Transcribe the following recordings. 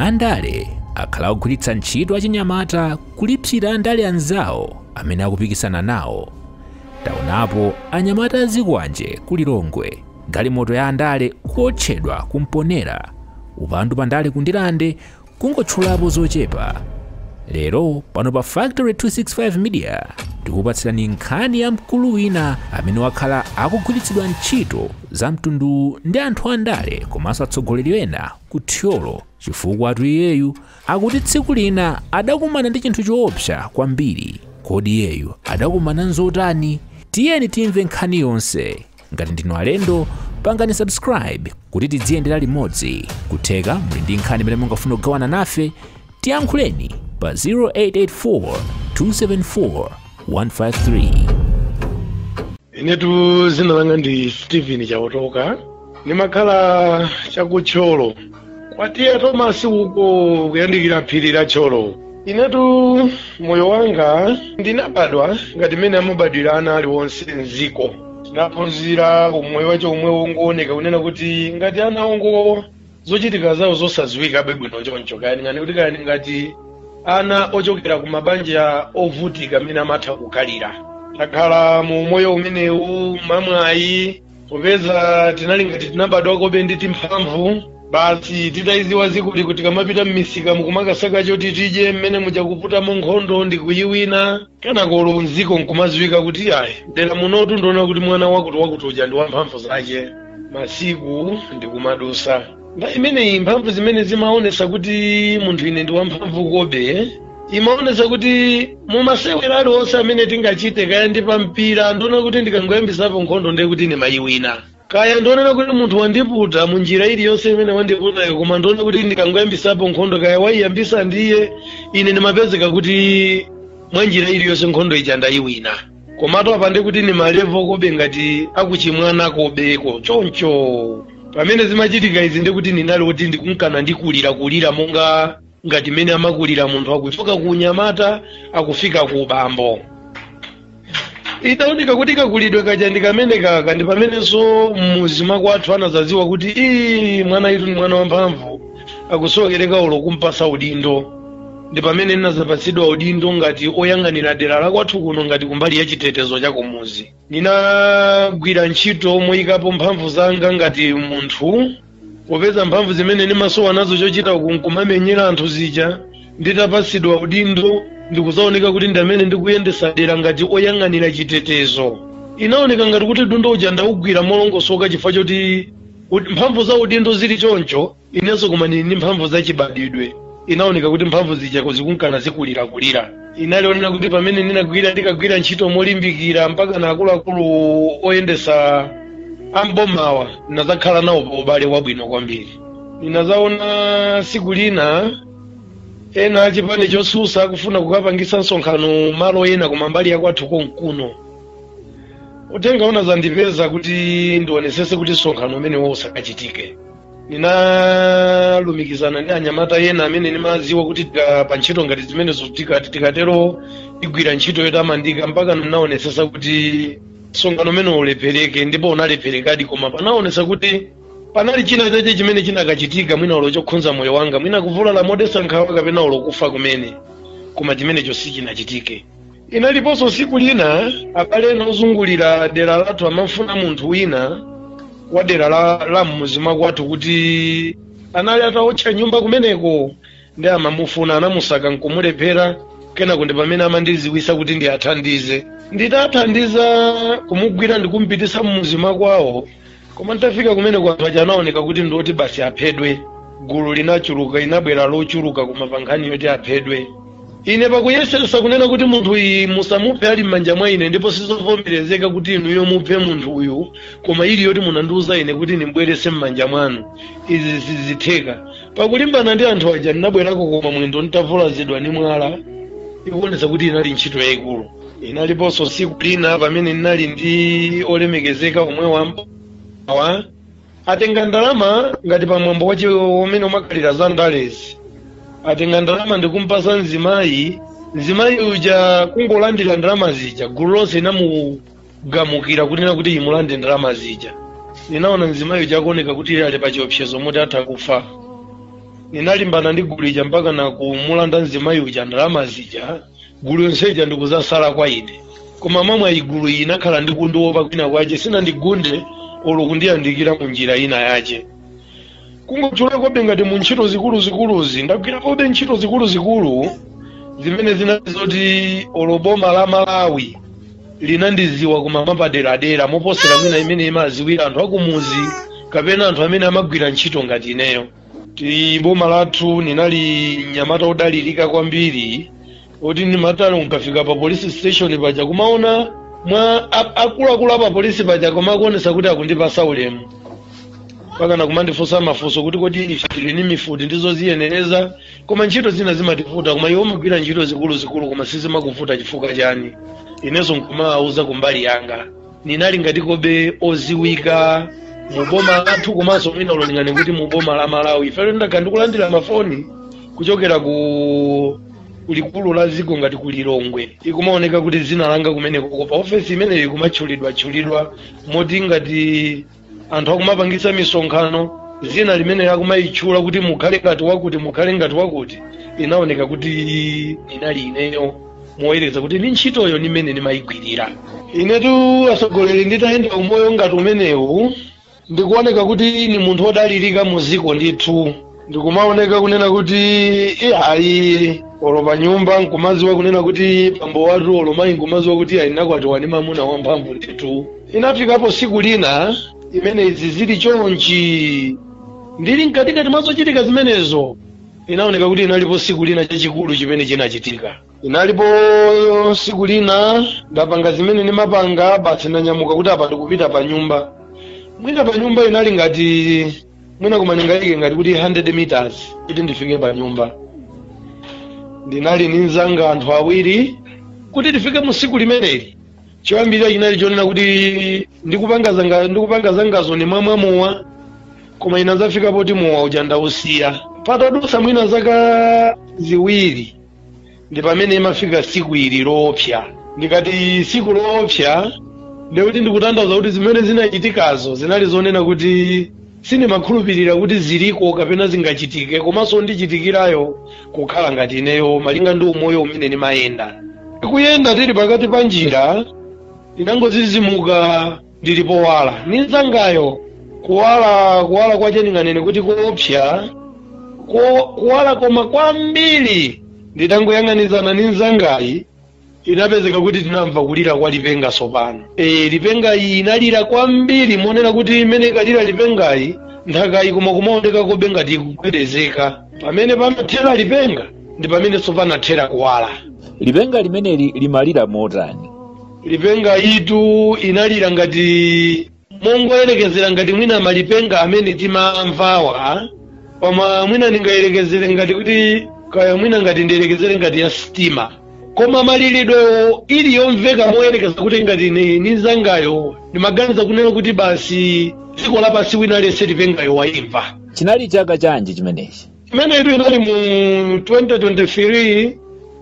andale akhala akugwiritsa ntchito achinyamata kulipsira andale anzawo amene akupikisana nawo taonapo anyamata azikwanje ku lilongwe galimoto ya andale kuwotchedwa kumponera upandu pandale ku Ndirande Kungotchulapo zochepa, lero pano pa Factory 265 Media tikupatsirani nkhani ya mkulu wina amene wakhala akugwiritsidwa ntchito za mtunduwu ndi anthu andale komanso atsogoleri ena ku Thyolo chifukwatu iyeyu akuti tsiku lina adakumana ndi chinthu choopsa kwambiri. Kodi iyeyu adakumana nzotani? Tiyeni timve nkhani yonse. ngati ndinu alendo pangani subscribe kuti tidziyendera limodzi kutheka muli ndi nkhani imene mungafuna kugawana nafe tiyankhuleni pa 0884 274 153 inetu dzina langa ndi steven chaotoka ndimakhala cha ku Thyolo kwa TA Thomas uko kuyandikira phiri la Thyolo inetu moyo wanga ndinabadwa ngati mmene amabadwira ana aliwonse mziko tinaphunzira umoyo wake umwewu wongooneka kunena kuti ngati ana ongowo zochitika zawo zosadziwikabe bwino choncho kayani ngani kuti kayani ngati ana ochokera ku mabanja ovutika mmene amatha kukhalira takhala mu umoyo umenewu mamwayi popeza tinali ngati tinabadwakobe ndi timphamvu basi titayiziwa zakuti tikamapita mmisikamu kumakasaka choti tidye mmene muja kuputamo nkhondo ndi kuyiwina kenako olo mziko nkumaziwika kuti ayi mdera munotu ndikunena kuti mwana wakuti wakuti uja ndi wamphamvu zake masiku nkumadusa nde imeneyi mphamvu zimene zimaonesa kuti munthu ine ndi wamphamvu kobe imaonesa kuti m'masewera aliwonse amene tingachite kaya ndi pampira ndikunena kuti ndikangoyambisapo nkhondo ndiye kuti ndimayiwina kaya ndikunena kuti munthu wandiputa mu njira iliyonse imene wandiputayo koma ndikunena kuti ndikangoyambisapo nkhondo kaya waiyambisa ndiye ine ndimapezeka kuti mwa njira iliyonse nkhondo ija ndayiwina komatu apa nde kuti ni malevo kobe ngati akuchimwana kobeko choncho pamene zimachitika izi nde kuti ndinali kuti ndikunkana ndikulira kulira monga ngati mmene amakulira munthu akuchoka ku unyamata akufika ku ubambo itaoneka kuti kakulidwe kaja ndi kamene kaka ndi pamenenso mmuzi makwathu anazaziwa kuti ii mwanayutu ndi mwana wamphamvu akusowekera olo kumpasa udindo ndi pamene ndinazapatsidwa udindo ngati oyang'anira dera lakwathu kuno ngati kumbali ya chitetezo cha kumuzi ndinagwira ntchito moyikapo mphamvu zanga ngati munthu popeza mphamvu zimene ndimasowa nazo chochita uku nkumamenyera anthu zija nditapatsidwa udindo nkuzaoneka kuti ndine amene ndikuyendesa dera ngati oyang'anira chitetezo inaoneka ngati kuti udindo uja ndaugwira molongosoka chifukwa choti ud- mphamvu za udindo zili choncho inenso koma ndili ndi mphamvu zachibadwidwe inaoneka kuti mphamvu zija zikunkana zikulirakulira inali yoonera kuti pamene ndinagwira ndikagwira ntchito molimbikira mpaka na akuluakulu oyendesa ambomawa ndinazakhala nawo pa ubale wabwino kwambiri ndinazaona siku lina ena achipani chosusa akufuna kukapangisa msonkhano malo ena koma mbali yakwathu konkuno uthenga unazandipeza kuti ndionesese kuti msonkhano umenewo usakachitike ndinalumikizana ndi anyamata ena amene ndimadziwa kuti tika- pa ntchito ngati zimenezo tikati tikatero tigwira ntchito yotamandika mpaka ndinaonetsetsa kuti msonkhano umene ulephereke ndipo unalepherekadi koma panaonetsa kuti panali china chache chimene chinakachitika mwina ulo chokhudza moyo wanga mwina kuvulala modetsa nkhawa kapena ulo kufa kumene koma chimenecho sichinachitike Inaliponso tsiku lina abale ena ozungulira dera lathu amafuna munthu wina wa dera la, la m'muzi mwakwathu kuti anali ataotcha nyumba kumeneko ndi amamufuna anamusaka nkumulephera kenako ndi pamene amandiziwisa kuti ndiathandize nditathandiza kumugwira ndikumpitisa m'muzi makwawo koma nditafika kumeneko anthu aja anaoneka kuti ndi oti basi aphedwe gulu linachuluka inabwera lochuluka koma pa nkhani yoti aphedwe ine pakuyesesa kunena kuti munthu uyu musamuphe ali m'manja mwa ine ndipo sizovomerezeka kuti inuyo muphe munthu uyu koma ili yoti munandiuza ine kuti ndimbwerese m'manja mwanu izi sizitheka pakulimbana ndi anthu aja ndinabwerako koma mwendo nditavulazidwa ndi mwala ikuonesa kuti inali ntchito yayikulu inaliponso tsiku lina pamene ndinali ndi olemekezeka omwe ambawa atenga ndalama ngati pa mwambo wache umene umakhalira za ndalezi atenga ndalama ndikumpasa mzimayi mzimayi uja kungolandira ndalama zija gulu lonse inamugamukira kunena kuti imulande ndalama zija ninaona mzimayi uja akuoneka kuti ali pa chiopsezo moti atha kufa ninalimbana ndi gulu ija mpaka na kumulanda mzimayi uja ndalama zija gulu yonseja ndikuzasala kwa ine koma mamwayi gulu iyi inakhala ndi kundiwopa kwina kwache sinandigunde olo kundiyandikira mu njira ina yache kungotchulakobe ngati mu ntchito zikuluzikuluzi ndagwirakobe ntchito zikuluzikulu zimene zinali zoti olo boma la malawi linandiziwa koma mapaderadera moposera mmene imene imaziwira anthu akumuzi kapena anthu amene amagwira ntchito ngati ineyo ti boma lathu ninali mnyamata odalirika kwambiri oti ndimati olo nkafika pa polisi station paja kumaona mwa a- akuluakulu a pa polisi paja kumakuonesa kuti akundipasa ulemu pakana kumandifunsa mafunso kuti kodi ife tili ni mifuti ndizoziyenereza koma ntchito zina zimativuta koma iwe umagwira ntchito zikuluzikulu koma sizimakuvuta chifukwa chani inenso nkumawauza kumbali yanga ninali ngati kobe oziwika mu boma lathu komanso mwina ulolingana kuti mu boma la malawi ifeyo ndakhala ndikulandira mafoni kuchokera ku likulu la dziko ngati ku lilongwe ikumaoneka kuti dzina langa kumeneko pa ofesi imeneyo ikumatchulidwa tchulidwa moti ngati anthu akumapangitsa misonkhano dzina limene akumayitchula kuti mukhale ngati wakuti mukhale ngati wakuti inaoneka kuti inali ineyo moyerekeza kuti ndi ntchitoyo nimene nimayigwirira inetu atsogoleri nditayenda umoyo ngati umenewu ndikuoneka kuti ni munthu odalirika mu dziko ndithu ndikumaoneka kunena kuti iyayi olo pa nyumba nkumaziwa kunena kuti bambo wathu olo mayi nkumaziwa kuti ayi nakwatiwa ndi mamuna wamphamvu ndithu inafikapo siku lina imene izi zili chonchi ndili mkatikati mwa zochitika zimenezo inaoneka kuti inalipo siku lina chachikulu chimene chinachitika inalipo siku lina ndapanga zimene ndimapanga basi ndanyamuka kuti apa ndikupita pa nyumba mwina pa nyumba inali ngati mwina koma ndinganene ngati kuti 100 meters kuti ndifike pa nyumba ndinali ndi mzanga anthu awiri kuti tifike mu tsiku limeneli choyambirira chinali chonena kuti ndikupanga zanga ndikupanga zangazo nimamwa mowa koma inazafika poti mowa uja ndausiya patadutsa mwina zaka ziwiri ndi pamene imafika siku ili loopsa ndikati siku loopsa ndiye kuti ndikutanthauza kuti zimene zinachitikazo zinali zonena kuti sindimakhulupirira kuti ziliko kapena zingachitike komanso kundichitikirako kukhala ngati ineyo malinga ndi umoyo umene ndimayenda tikuyenda tili pakati pa njira inangozizimuka ndili powala ninzangayo kuwala kuwala kwache ndinganene kuti koopsa ko- kuwala koma kwambiri nditangoyang'anizana ndi nzangayi inapezeka kuti tinamva kulira kwa lipenga sopano e, lipengayi inalira kwambiri monena kuti imene ikalira lipengayi nthakayi koma kumaoneka kobe ngati ikugwedezeka pamene panathera lipenga ndi pamene sopano anathera kuwala lipenga limeneli limalira motani lipengayitu inalira ngati mongoyerekezera ngati mwina malipenga amene timamvawa koma mwina ndingayerekezere ngati kuti kaya mwina ngati ndiyerekezere ngati ya sitima koma maliridwewo ili yomveka moyerekeza kuti ngati ni nzangayo ndimaganiza kunena kuti basi dziko lapansi wina aliyense lipengayo wayimva chinali chaka chanji chimenechi imeneyitu inali mu 2023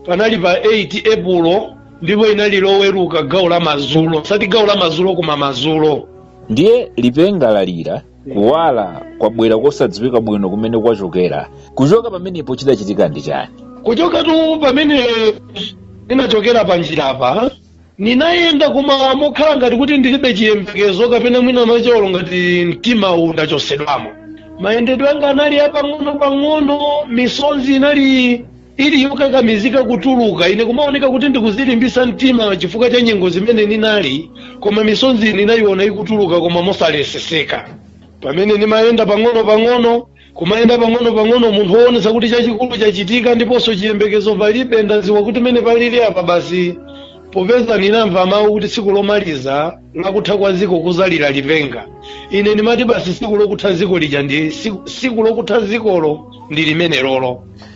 panali pa 8 epulo ndipo inali loweruka gawo la mazulo sati gawo la mazulo koma mazulo ndiye lipenga lalira kuwala kwabwera kosadziwika bwino kumene kwachokera kuchoka pamenepo chidachitika ndi chani kuchokatu pamene ninachokera pa njirapa Ninayenda koma mokhala ngati kuti ndilibe chiyembekezo kapena mwina mwache olo ngati mtima undachosedwamo. Mayendedwe anga anali apang'ono pang'ono, misonzi inali ili yokakamizika kutuluka. Ine kumaoneka kuti ndikuzilimbisa mtima chifukwa cha nyengo zimene ninali, koma misonzi ninayiona ikutuluka koma mosaleseseka. Pamene nimayenda pang'ono pang'ono, kumayenda pang'ono-pang'ono munthu woonetsa kuti chachikulu chachitika ndiponso chiyembekezo palibe ndadziwa kuti mene palili apa basi popeza ndinamva mawu kuti tsiku lomaliza lakutha kwa dziko kuzalira lipenga ine ndimati basi tsiku lokutha dziko lija ndi tsiku lokutha dzikolo ndi limenelolo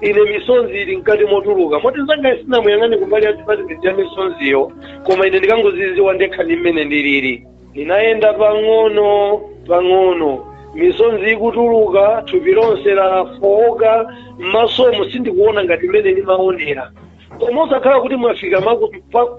ine misonzi ili mkati motuluka moti mnzangayi sinamuyang'ane kumbali ya dipatimenti ya misonziyo koma ine ndikangoziziwa ndekha ndi mmene ndilili ndinayenda pang'ono pang'ono misonzi ikutuluka thupi lonse lafooka m'masomo sindikuona ngati mmene ndimaonera koma osakhala kuti mwafika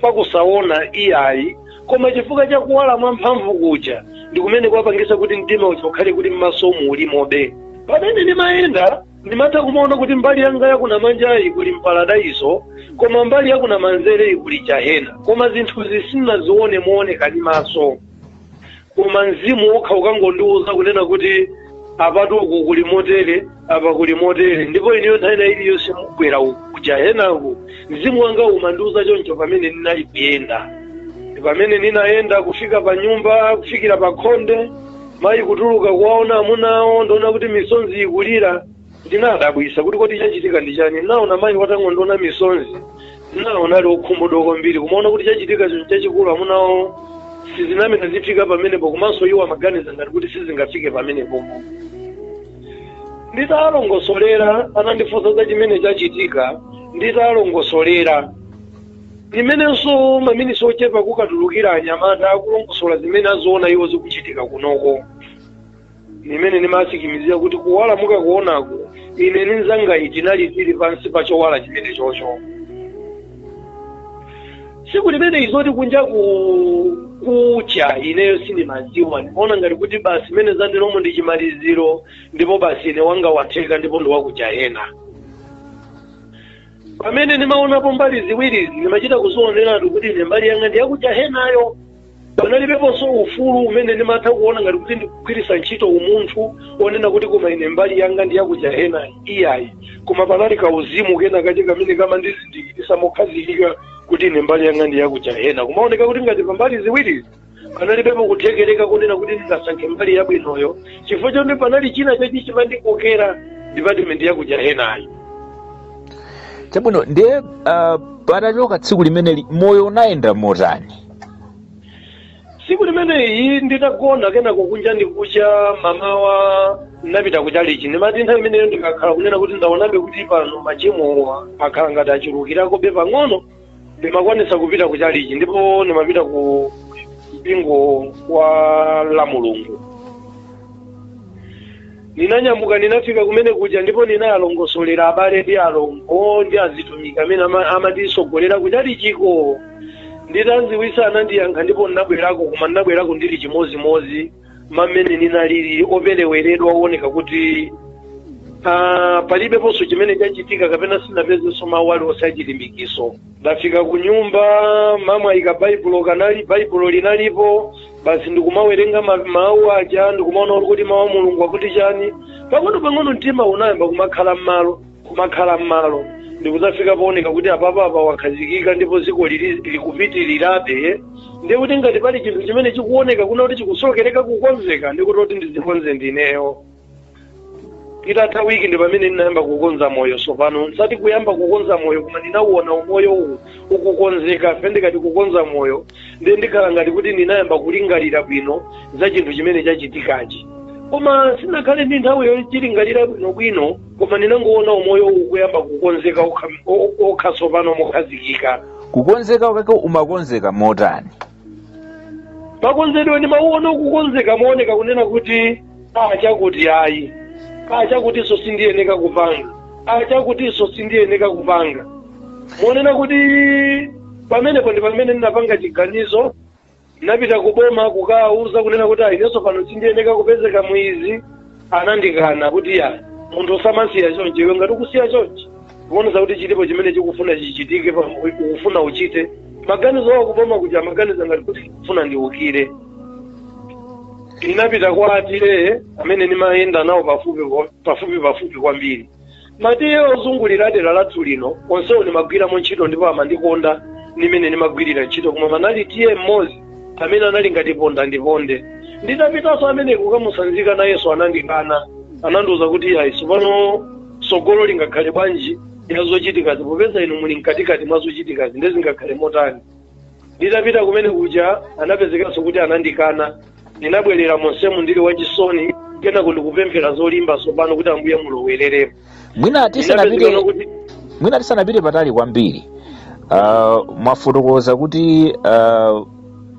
pakusaona iyayi koma chifukwa cha kuwala mwamphamvu kuja ndi kumene kwapangisa kuti mtima uja ukhale kuti m'masomo ulimobe pamene ndimayenda ndimatha kumaona kuti mbali yanga yakunamanjayi kuli mparadaiso koma mbali yakunamanzereyi kuli jahena koma zinthuzi sinazione mooneka ndi maso koma mzimu wokha ukangondiwuza kunena kuti apatu uku kuli motere apa kuli motere ndipo ineyo nthawi ina iliyonse mugwera kujahenaku mzimu wanga umandiwuza choncho pamene ndinali kuyenda pamene ndinayenda kufika pa nyumba kufikira pa khonde mayi kutuluka kuwaona amuna awo ndiona kuti misonzi ikulira ndinadabwisa kuti kodi chachitika ndi chani ndinaona mayi watangondiona misonzi ndinaona ali okhumudwa kwambiri kumaona kuti chachitika chinthu chachikulu amuna awo sizinamene zifika pamenepo komanso iwo amaganiza ngati kuti sizingafike pamenepo nditalongosolera anandifunsa za chimene chachitika nditalongosolera ndi mmenenso maminisi ochepa kukatulukira anyamata akulongosola zimene aziona iwo zikuchitika kunoko ndi mmene ndimasikimizira kuti kuwala mukakuonako ine ndi mnzangayi tinali tili pansi pa chowala chimenechocho tsiku limeneli zoti kunja kukucha ineyo sindimadziwa ndimaona ngati kuti basi mmene zateromo ndi chimaliziro ndipo basi ine wanga watheka ndipo ndiwakujahena pamene ndimaonapo mbali ziwirizi ndimachita kuzioneratu kuti ine mbali yanga ndiyakujahenayo panalibeponso ufulu umene ndimatha kuona ngati kuti ndikugwiritsa ntchito umunthu onena kuti koma ine mbali yanga ndiyakujahena iyayi koma panali kauzimu kenakache kamene kamandizindikiritsa mokhazikika kuti ine mbali yanga ndiyakujahena kumaoneka kuti ngati pambali ziwirizi panalibepo kuthekereka kunena kuti ndingasankhe mbali yabwinoyo chifukwa choti panali china chachi chimandikokera dipatimenti yakuja henayo chabwino ndiye uh, patachoka tsiku limeneli moyo unayenda motani tsiku limeneli nditagona kenako kunja ndikucha mamawa ndinapita kuchalichi ndimati nthawi imeneyo ndikakhala kunena kuti ndaonabe kuti pano machimowa akhala ngati achulukirakobe pang'ono ndimakwanisa kupita ku chalichi ndipo ndimapita ku mpingo wa la mulungu ndinanyamuka ndinafika kumene kuja ndipo ndinawalongosolera abale ndi alongo ndi azitumiki amene ama- amatitsogolera ku chalichiko nditawadziwitsa anandiyankha ndipo ndinabwerako koma ndinabwerako ndili chimodzimodzi mmene ninalili opereweredwa owoneka kuti ah, palibeponso chimene chachitika kapena sinapezenso mawu aliwonse achilimbikitso ndafika ku nyumba mama ayika baibulo kunali baibulo linalipo basi ndikumawerenga ma- mawu aja ndikumaona kuti kuti mawu a mulungu akuti chani pang'ono pang'ono mtima unayamba kumakhala m'malo kumakhala m'malo ndikudzafika pooneka kuti apapa apa wakhazikika ndipo dziko likupitirirabe ndiye kuti ngati pali chinthu chimene chikuoneka kunena kuti chikusowekera kukonzeka ndikuti kuti ndizikonze ndineyo itatha wiki ndi pamene ndinayamba kukonza moyo tsopano osati kuyamba kukonza moyo koma ndinauona umoyowu ukukonzeka fe ndikati kukonza moyo ndiye ndikhala ngati kuti ndinayamba kulingalira bwino za chinthu chimene chachitikachi koma sinnakhale ndi nthawi yochilingalira bwinobwino koma ndinangowona umoyowu kuyamba kukonzeka wokha wo- wokha tsopano mokhazikika kukonzeka kwake umakonzeka motani makonzedwe ndimauona kukonzeka mooneka kunena kuti a chakuti ayi a chakutinso sindiyeneka kupanga a chakutinso sindiyeneka kupanga monena kuti pamenepo ndi pamene ndinapanga chiganizo Ndinapita ku boma kukawauza kunena kuti inenso pano sindiyeneka kupezeka mu izi, anandikana kuti ya munthu samasiya chonchi, iwe ngati ukusiya chonchi ukuonetsa kuti chilipo chimene chikufuna chichitike, pa- ukufuna uchite maganizo awo kuboma kuja amaganiza ngati kuti ndikufuna ndiukire. Ndinapita kwa a tiye amene ndimayenda nawo pafupi pafupi pafupi kwambiri Matiye ozungulira dera lathu lino onsewo nimagwiramo ntchito ndipo amandikonda ndi mmene nimagwirira ntchito koma panali tiye mmodzi amene anali ngati ponda ndiponde nditapitanso amene kukamusanzika nayenso anandikana anandiuza kuti ayi tsopano tsogolo lingakhale bwanji la zochitikazi popeza inu muli mkatikati mwa zochitikazi nde zingakhale motani nditapita kumene kuja anapezekanso kuti anandikana ndinabwerera monsemu ndili wachisoni kenako ndikupemphera zolimba tsopano kuti ambuye mulowereremo Mwina tisanapite patali kwambiri uh, mwafotokoza kuti uh,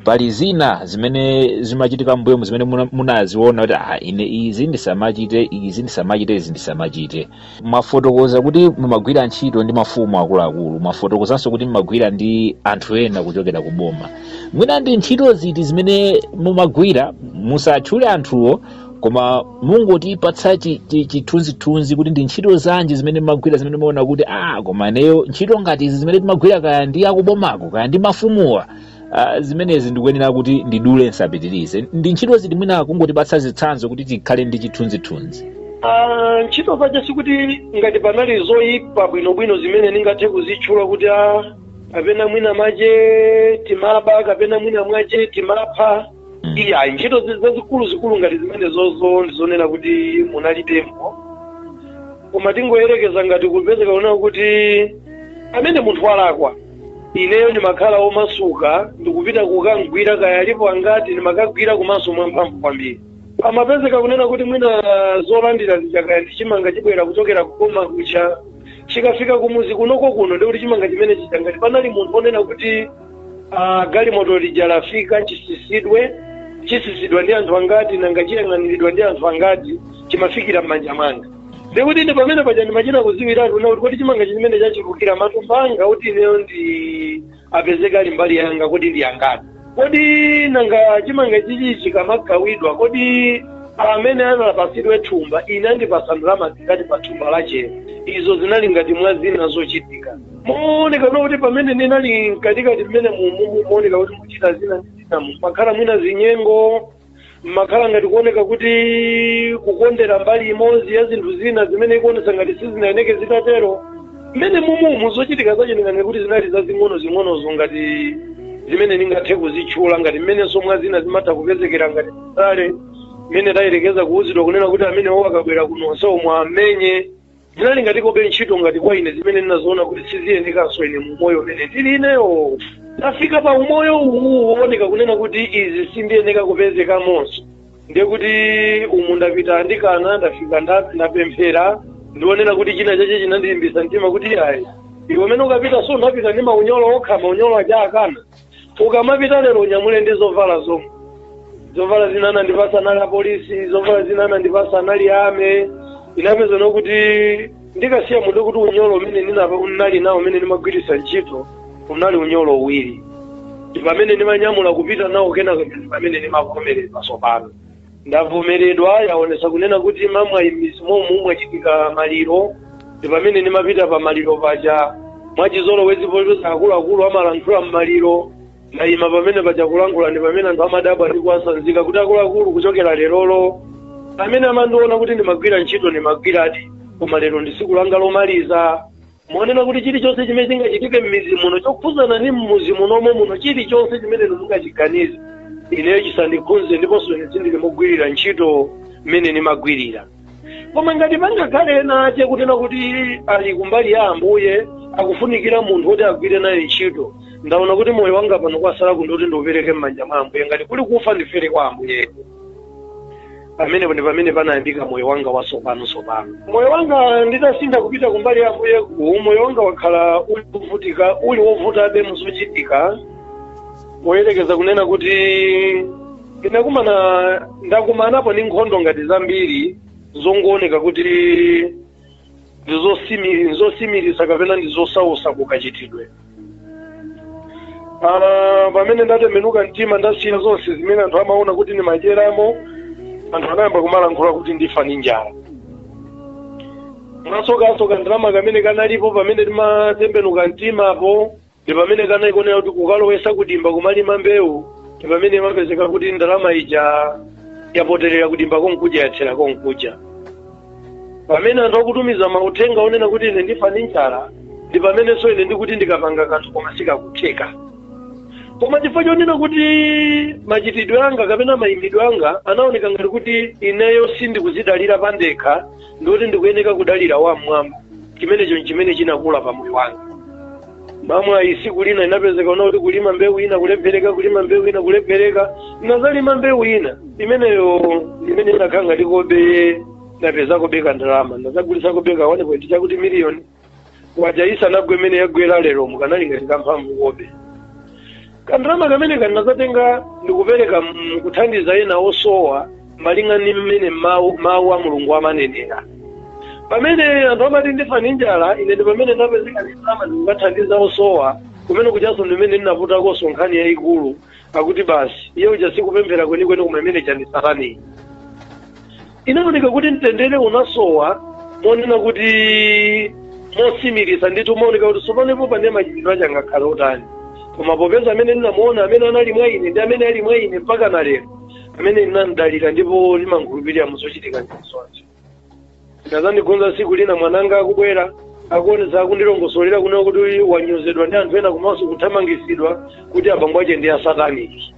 pali zina zimene zimachitika mbuyomu zimene muna- munaziona kuti ah, ine izi ndisamachite izi ndisamachite izi ndisamachite Mwafotokoza kuti mumagwira ntchito ndi mafumu akuluakulu, mwafotokozanso kuti mumagwira ndi anthu ena kuchokera ku boma. Mwina ndi ntchito ziti zimene mumagwira, musatchule anthuwo, koma mungotipatsa chi- chi- chithunzithunzi kuti ndi ntchito zanji zimene mumagwira zimene mumaona kuti ah, koma ineyo ntchito ngati izi zimene timagwira kaya ndi akubomako kaya ndi mafumuwa Ah, zimenezi ndikuyenera kuti ndidule nsapitirize ndi ntchito ziti mwina kungotipatsa zitsanzo kuti tikhale ndi chithunzithunzi Ah, ntchito zache sikuti ngati panali zoyipa bwinobwino zimene ndingathe kuzitchula kuti a kapena mwina mwache timaba kapena mwina mwache timapha Mm. iyayi ntchito zi- zazikuluzikulu ngati zimene zozo ndizonena kuti munalitempo koma tingoyerekeza ngati kupezeka kunena kuti amene munthu walakwa ineyo ndimakhala womasuka ndikupita kukamgwira kaya alipo angati ndimakagwira komanso mwamphamvu kwambiri amapezeka kunena kuti mwina zolandira zija kaya ndi chimanga chibwera kuchokera ku boma kuja chikafika kumudzi kunoko kuno ndikuti chimanga chimene chija ngati panali munthu onena kuti ah, galimoto lija lafika chitsitsidwe chitsitsidwa ndi anthu angati nanga chiyang'aniridwa ndi anthu angati chimafikira m'manja mwanga ndikuti ine pamene paja ndimachita kudziwiratu kunena kuti kodi chimanga chimenechi chichulukira matumba angati ineyo ndiwapezeke ali mbali yanga kodi ndi angati kodi nanga chimanga chichi chikamagawidwa kodi amene anapatsidwa thumba ine andipatsa ndalama zingati pa thumba lachelo izo zinali ngati mwa zina zochitika mooneka kunena kuti pamene ndinali mkatikati mmene mumumu mooneka kuti muchita zina ndi zina mmakhala mwina zinyengo mmakhala ngati kuoneka kuti kukondera mbali imodzi ya zinthu zina zimene ikuonetsa ngati sizinayeneke zitatero mmene mumumu zochitika zache ndinganene kuti zinali zazing'ono zing'onozo ngati zimene ndingathe kuzitchula ngati mmenenso mwa zina zimatha kupezekera ngati chabe mmene tayerekeza kuwuzidwa kunena kuti amenewo akabwera kuno onsewo muwamenye Zinali ngati kabe ntchito ngati kwa ine zimene ndinaziona kuti siziyenekanso ine mu umoyo umene ndili ineyo. Ndafika pa umoyo uwu wooneka kunena kuti izi sindiyeneka kupezekamonso. Ndiye kuti umu ndapita andikana ndafika nda- ndapemphera ndionena kuti china chache chinandilimbisa mtima kuti ayi iwe umene ukapita so unapita ndi maunyolo okha maunyolo aja akana ukamapita lero unyamule ndi zovala zomwe zovala zina anandipasa anali apolisi zovala zina anandipasa anali ame inapeza nokuti ndikasiya munthu kuti unyolo umene ndinali nawo umene ndimagwiritsa ntchito unali unyolo uwiri ndi pamene ndimanyamula kupita nawo kenako ndi pamene ndimavomereza tsopano ndavomeredwa yaonesa kunena kuti mamwayi m'midzi momu mwachitika maliro ndi pamene ndimapita pa maliro paja mwachizolowezi popeza akuluakulu amalankhula m'maliro ndayima pamene paja kulankhula ndi pamene anthu amadabwa ndi kuwasanzika kuti akuluakulu kuchokera lerolo amene amandiona kuti ndimagwira ntchito ndimagwiradi koma lero ndi tsiku langa lomaliza Muona kuti chilichonse chimene chingachitike m'midzi muno chokhudzana ndi m'mudzi munomo muno chilichonse chimene inu mungachiganize ineyo chisandikhudze ndiponso ine sindili mogwirira ntchito mmene ndimagwirira koma ngati pangakhale ena ache kunena kuti ali kumbali ya ambuye akufunikira munthu woti agwire naye ntchito ndaona kuti moyo wanga pano kwasala ndikuti ndiupereke m'manja mwa ambuye ngati kuli kufa ndifere kwa ambuye pamenepo ndi pamene panayambika moyo wanga watsopano tsopano moyo wanga nditasintha kupita kumbali ya ambuyeku moyo wanga wakhala uli wovutika uli wovutabe muzochitika poyerekeza kunena kuti ndinakumana ndakumanapo ndi nkhondo ngati zambiri zongooneka kuti ndi zosimi- ndi zosimiritsa kapena ndi zosausa kukachitidwe Ah, pamene ndatembenuka mtima ndasiya zonse zimene anthu amaona kuti ndimadyeramo anthu anayamba kumalankhula kuti ndifa ndi njala mwasokanso kandalama kamene kanalipo pamene ndimatembenuka mtimapo ndi pamene kanaikonera kuti kukalowesa kudimba kumalima mbewu ndi pamene imapezeka kuti ndalama ija yapoterera kudimba konkuja yathera konkuja pamene anthu akutumiza mauthenga onena kuti ine ndifa ndi njala ndi pamenenso ine ndikuti ndikapanga kanthu koma sikakutheka koma chifukwa chonena kuti machitidwe anga kapena mayimidwe anga anaoneka ngati kuti ineyo sindikuzidalira pandekha ndikuti ndikuyeneka kudalira wam'mwamba chimenecho nchimene chinakula pa moyo wanga mamwayi siku lina inapezeka kunena kuti kulima mbewu ina kulephereka kulima mbewu ina kulephereka nazalima mbewu ina imeneyo imene inakhala ngati kobe napezakobe kandalama ndazagulitsakobe ka 1.2 chakuti miliyoni kwacha isanagwe imene yagwera lero mukanali ngati kamphamvukobe kandalama kamene ndinazatenga ndikupereka mm, kuthandiza ena osowa malinga ndi mmene mawu mawu a mulungu amanenera pamene anthu amati ndifa ndi njala ine ndi pamene ndapezeka ndalama ndikukathandiza osowa kumene kuchanso ndimene ndinaputakonso nkhani yayikulu akuti basi iye uja sikupemphera kwenikweni koma zimene zija ndi za sataniyi inaoneka kuti mtendere unasowa monena koma motsimikiza ndithu maoneka kuti tsopanopo pane machitidwe ache angakhale otani koma popeza amene ndinamuona amene anali mwa ine ndi amene ali mwa ine mpaka na lero amene ndinamdalira ndipo ndimankhulupirira muzochitika ndi zonse inazandikhudza tsiku lina mwananga akubwera akuonetsa akundilongosolera kunena kuti wanyozedwa ndi anthu ena komanso kuthamangitsidwa kuti abambo ache ndi asataniki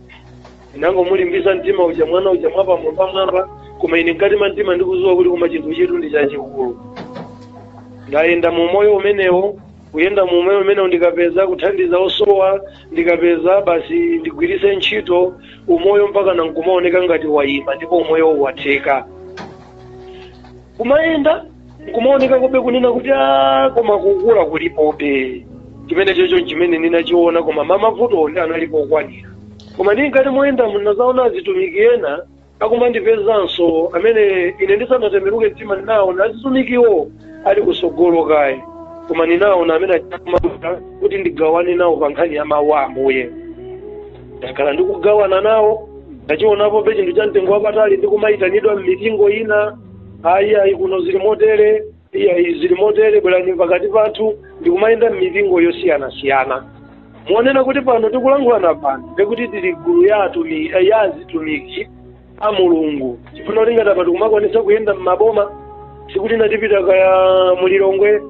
ndinangomulimbisa mtima uja mwana uja mwapamwambamwamba koma ine mkati mwa mtima ndikuziwa kuti koma chinthu ichitu ndi chachikulu ndayenda mu moyo umenewo kuyenda mu umoyo umenewo ndikapeza kuthandiza osowa ndikapeza basi ndigwiritse ntchito umoyo mpaka nankumaoneka ngati wayima ndipo umoyowu watheka kumayenda nkumaonekakobe kunena kuti a koma kukula kulipobe chimenecho ndi chimene ndinachiona koma mavutowo nde analipo okwanira koma mkati moyenda munazaona azitumiki ena akumandipezanso amene ine ndisanatembenuke mtima ndinaona azitumikiwo ali kusogolo kaye koma ndinaona amene akumabwera kuti ndigawane nawo pa nkhani ya mawu a ambuye ndakhala ndikugawana nawo ndachionapobe chinthu cha mtengo wapatali ndikumayitanidwa m'mipingo ina ayi ayi kuno zili motere iyayi zili motere bwerani pakati pathu ndikumayenda m'mipingo yosiyanasiyana monena kuti pano tikulankhulana pano ndikuti tili gulu ya azitumiki a mulungu chifukwa chakuti ngati apa tikumakwanisa kuyenda m'maboma siku lina tipita kaya mulilongwe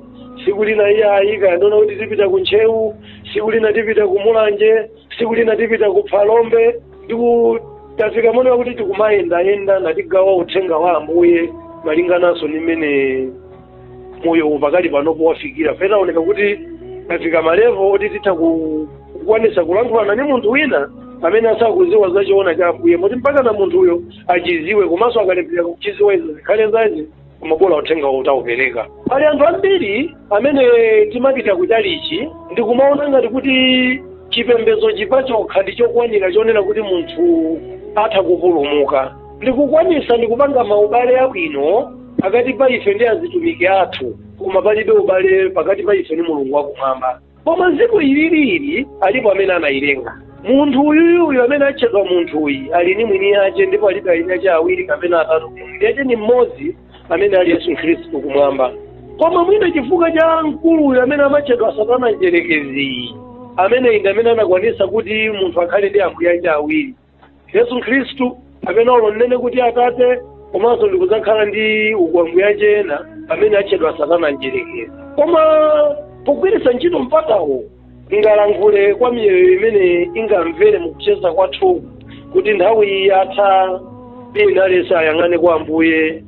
siku lina iyayi kaya ndiona kuti tipita ku ntcheu siku lina tipita ku mulanje siku lina tipita ku phalombe tafika monena kuti tikumayendayenda natigawa uthenga wa ambuye malingananso ndi mmene moyo uwu pakali panopo wafikira pena zaoneka kuti tafika malevo oti titha ku- kukwanisa kulankhulana ndi munthu wina amene asakuziwa za choona cha ambuye moti mpaka na munthuyo achiziwe komanso akalephera kuchiziwa izo zikhale zace koma bola uthenga utaupereka pali anthu ambiri amene timapita kutchalichi ndikumaona ngati kuti chipembedzo chi pachokha ndi chokwanira chonena kuti munthu atha kupulumuka ndikukwanisa ndikupanga maubale abwino pakati pa ife ndi azitumiki athu koma palibe ubale pakati pa ife ndi mulungu wakumwamba koma dziko ililili alipo amene anayilenga munthu uyuyuyu amene atchedwa munthuyi ali ni mwini yace ndipo alibe eni ace awiri kapena atatu mwini yace ni mmodzi amene ali yesu khristu kumwamba koma mwina chifukwa cha mkuluyu amene amatchedwa satana mdyerekeziyi amene ndi amene anakwanisa kuti munthu akhale ndi ambuye ace awiri yesu khristu amene olo nnene kuti atate komanso ndikudzakhala ndi ukwamuyanje ena amene atchedwa satana mdyerekezi koma pogwiritsa ntchito mpatawu ndingalankhule kwa miyoyo imene ingamvere mukucheza kwathu kuti nthawi iyi yatha iye ndilalisa ayang'ane kwa ambuye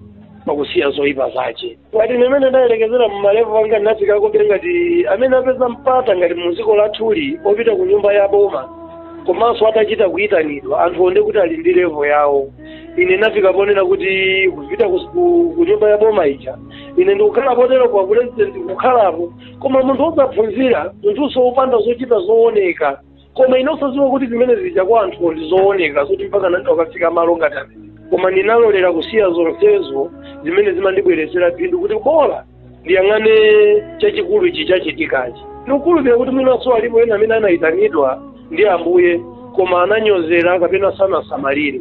pakusiya zoyipa zace ngati mmene ndayerekezera mu malevo anga ndinafika kuti ngati amene apeza mpata ngati mu dziko lathuli opita ku nyumba ya boma komanso atachita kuyitanidwa anthu onde kuti ali ndi levo yawo ine ndinafika ponena kuti kupita ku- ku- ku nyumba ya boma ija ine ndikukhala potero kwa president kukhalapo koma munthu osaphunzira munthunso wopanda zochita zooneka koma inu osadziwa kuti zimene zija kwa anthu ndi zooneka zoti mpaka nanga akafika malo ngati amene koma ndinalolera kusiya zonsezo zimene zimandibweretsera phindu kuti bola ndiyang'ane chachikulu ichi chachitikachi ndikukhulupirira kuti mwinanso alipo ena amene anayitanidwa ndi ambuye koma ananyozera kapena sanasamalire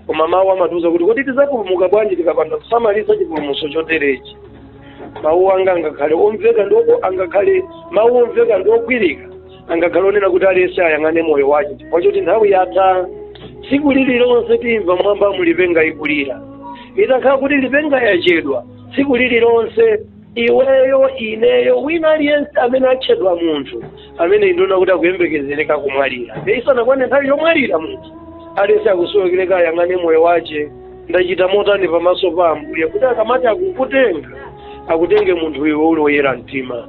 koma mawu amatiuza kuti kodi tidzapulumuka bwanji tikapanda kusamalitsa chipulumutso choterechi mawu anga angakhale omveka ndi oko angakhale mawu omveka ndi ogwirika angakhale onena kuti aliyense ayang'ane moyo wace chifukwa choti nthawi yatha tsiku lililonse timva m'mwambamu lipenga ikulira itakhala kuti lipenga yachedwa tsiku lililonse iweyo ineyo wina aliyense amene atchedwa munthu amene ndi zoona kuti akuyembekezereka kumwalira nde isanakwane nthawi yomwalira munthu aliyense akusowekereka ayang'ane moyo wace ndachita motani pamaso pa ambuye kuti akamati akukutenga akutenge munthu iwe uli woyera mtima